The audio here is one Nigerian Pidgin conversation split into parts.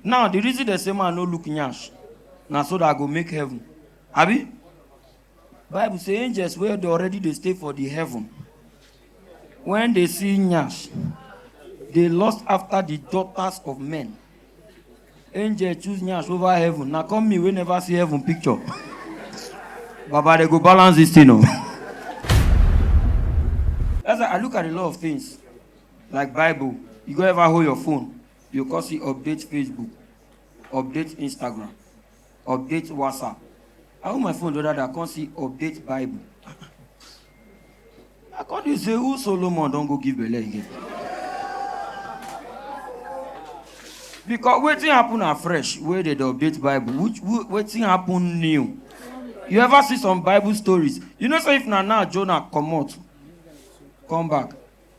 Now the reason dem say man no look nyash na so that I go make heaven. Abi? Bible say angels wey dey already dey stay for the heaven when they see nyash they lust after the daughters of men. Angel choose nyash over heaven na come me wey never see heaven picture. Baba dey go balance this thing o. That's why I look at a lot of things like Bible. You go ever hold your phone You come see update Facebook, update Instagram, update WhatsApp. I hold my phone the other day, I come see update Bible. I come dey say who Solomon don go give belle again? Because wetin happen afresh wey dey dey update Bible, which wh- wetin happen new? You ever see some Bible stories? You know say if na now Jonah comot, come back,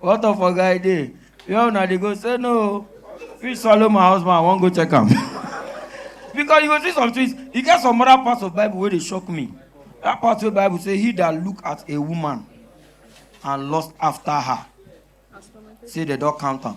What of a guy there? Where una dey go? Say no. Fish swallow my husband, I wan go check am. because you go see some things, e get some other parts of Bible wey dey shock me. That part wey Bible say he that look at a woman and lust after her, say they don count am.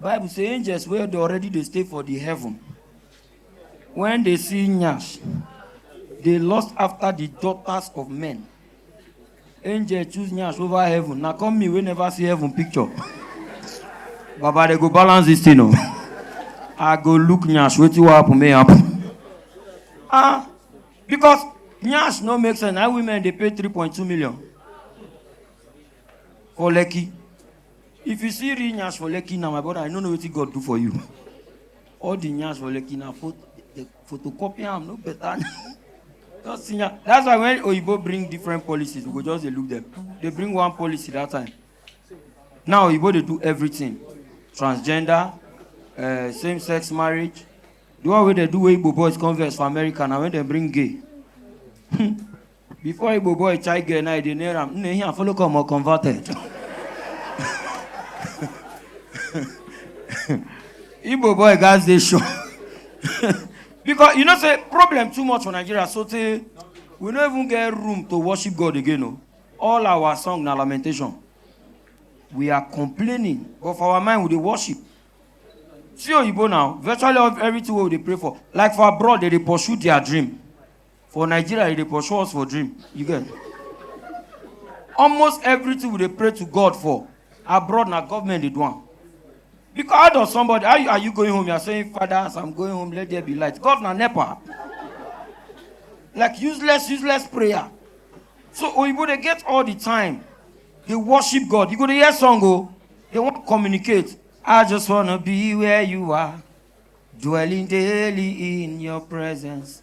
bible say angels wey dey already dey stay for the heaven when they see nyash they lust after the daughters of men angel choose nyash over heaven na come me wey never see heaven picture baba they go balance this thing o i go look nyash wetin wan happen may happen ah because nyash no make sense na women dey pay three point two million for lekki If you see real nyash for Lekki now, my brother, I no know wetin God do for you. All the nyash for Lekki na pho- the photocopy am no better. Just see nya- That's why when Oyibo bring different policies, we go just dey look them. They bring one policy that time. Now Oyibo dey do everything. Transgender, uh, same-sex marriage. The one wey dey do wey Igbo boys converse for America na when dem bring gay. Before Igbo boy chai girl now, they near him. Nne here follow come or converted. Igbo boy guys they show. because you know say problem too much for Nigeria so say we no even get room to worship God again o. All our song na lamentation. We are complaining but for our mind we dey worship. See oyibo now virtually everything wey we dey pray for like for abroad they dey pursue their dream. For Nigeria, you dey pursue us for dream. You get? Almost everything we dey pray to God for abroad na government dey do am. Because how does somebody how you, are you going home? You are saying, Father, as I'm going home, let there be light. God na nepa. Like useless, useless prayer. So Oyibo dey get all the time. They worship God. You go dey hear song o. They wan communicate. I just wanna be where you are, dwelling daily in your presence.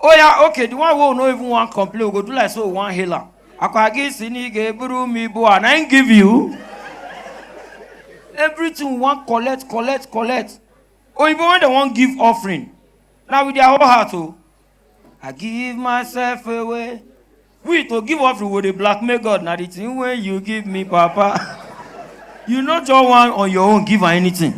Oh yeah, okay, the one who no even want complain, we go do like so we want healer. Akwagi sini ge buru mi bo and I ain't give you. Everything we want collect, collect, collect. Oh, even when they want give offering, now with their whole heart, oh, I give myself away. we to give offering we dey blackmail god na the thing wey you give me papa you no just wan on your own give am anything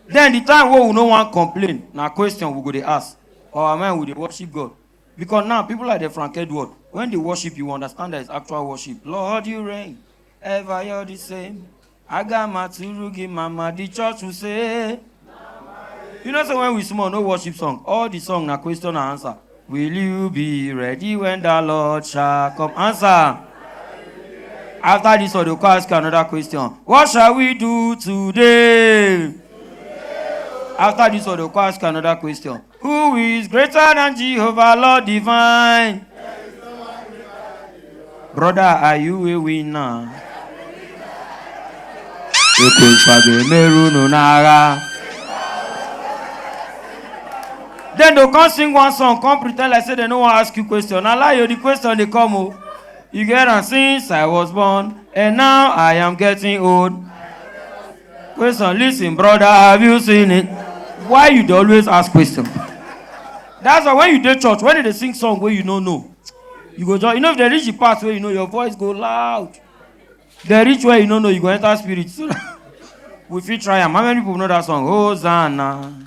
then the time wey we no wan complain na question we go dey ask for our mind we dey worship god because now people like the frank edward when they worship you understand that it's actual worship lord you reign ever you're the same Aga maturu gi mama the church will say. You know say when we small no worship song all the song na question and answer. Will you be ready when the Lord shall come? Answer. After this one, they go come ask you another question. What shall we do today? After this one, they go come ask you another question. Who is greater than Jehovah, Lord divine? Brother, are you a winner? Ekwenfa ga-emeru unu n'agha. Then they come sing one song, come pretend like say they no wan ask you question. Na lie o, the question dey come o. You get am since I was born and now I am getting old. Question, listen, brother, have you seen it? Why you dey always ask question? That's why when you dey church, when they dey sing song wey you no know, you go just, you know if they reach the part where you know your voice go loud. They reach where you no know, you go enter spirit. So that we fit try am. How many people know that song? Hosanna.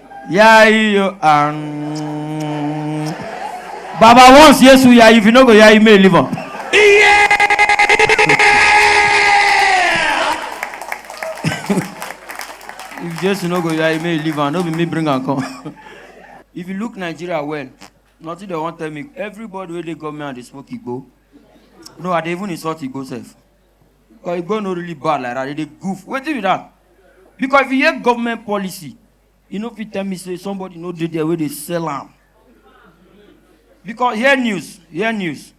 Yeah, you um, Baba once yes we are if you no go yeah you may live up. Yeah. if Jesus no go yeah you may live on. No be me bring and come. if you look Nigeria well, nothing they want tell me. Everybody where they come here and they smoke igbo. No, I dey even insult igbo self. But e go no really bad like that, they dey goof. Wetin be that? Because if you hear government policy, you no fit tell me say somebody no dey there wey dey sell am. Because hear news, hear news.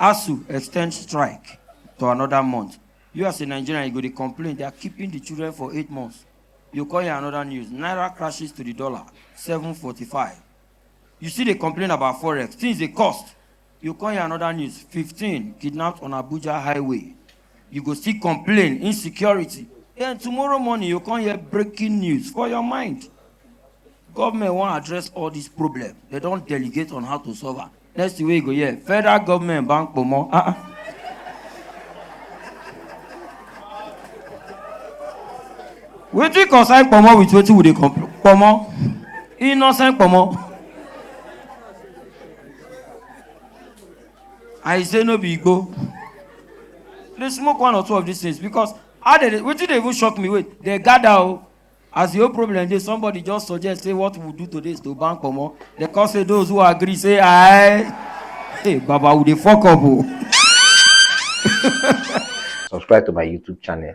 ASUU extend strike to another month. You as a Nigerian, you go dey complain they are keeping the children for eight months. You call here another news. Naira crashes to the dollar, 745. You still dey complain about forex. Things dey cost. You come hear another news, 15 kidnapped on Abuja highway. You go still complain, insecurity. Then tomorrow morning, you come hear breaking news for your mind. Government won't address all these problems. They don't delegate on how to solve it. Next week, go hear federal government bank promo. Uh-uh. Ah, wetin concern pomo with wetin we dey complain pomo innocent pomo. I say no be go. They smoke one or two of these things because how they dey- wetin dey even shock me wait they gather o as the whole problem dey somebody just suggest say what we do today is to ban comot they come say those who agree say aye hey baba we dey fok up o. subscribe to my youtube channel